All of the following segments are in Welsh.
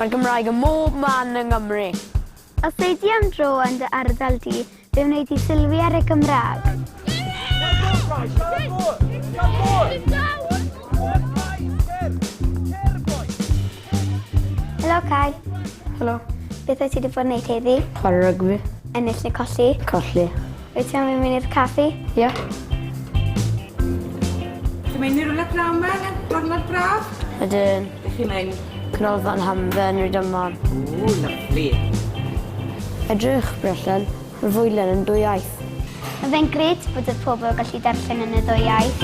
Mae Gymraeg ym mhob man yng Nghymru. Os ei di am dro yn dy ardal di, fe wneud di sylwi ar y Gymraeg. Helo, Kai. Helo. Beth wyt ti wedi bod yn neud heddi? Chwarae rygbi. Ennill neu colli? Colli. Wyt ti am i mi wneud caffi? Ie. Ti'n mynd i rwle braf ma? Gornod braf? Ydyn. Ydych chi'n mynd? Canolfan Hamdden, Rydymon. O, lyflu. Edrych, Brellen. Mae fwylen yn dwy iaith. Mae fe'n gret bod y pobl yn gallu darllen yn y ddwy iaith.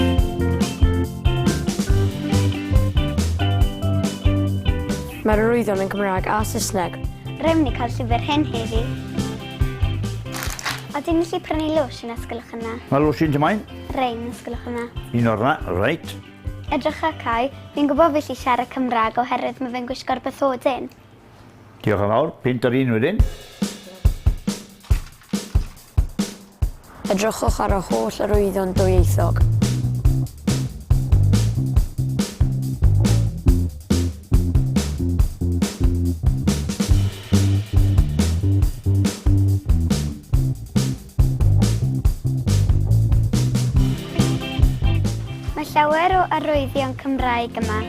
Mae'r arwyddion yn Cymraeg a Saesneg. Rhaid ni cael llyfr hyn heddi. Ydyn ni gallu prynu lwsh yn ysgolwch yna? Mae lwsh yn dymain? Rein ysgolwch yna. Un o'r na, reit. Edrych a cael, fi'n gwybod fi lli siarad Cymraeg oherwydd mae fe'n gwisgo'r bythodyn. Diolch yn fawr, pint yr un wedyn. Edrychwch ar y holl arwyddion dwyieithog. Mae llawer o arwyddion Cymraeg yma.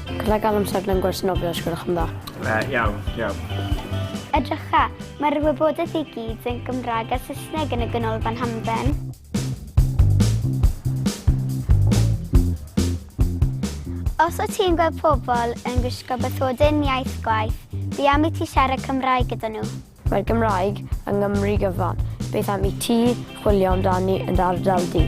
Gallai gael amser mewn gwers nofio os gwelwch yn dda. Uh, iawn, iawn. Edrycha, mae'r wybodaeth i gyd yn Gymraeg a Saesneg yn y Ganolfan Hamdden. Os o ti'n gweld pobl yn gwisgo bythodyn iaith gwaith, fi am i ti siarad Cymraeg gyda nhw. Mae Cymraeg yng Nghymru gyfan. Beth am i ti chwilio amdani yn dy ardal di?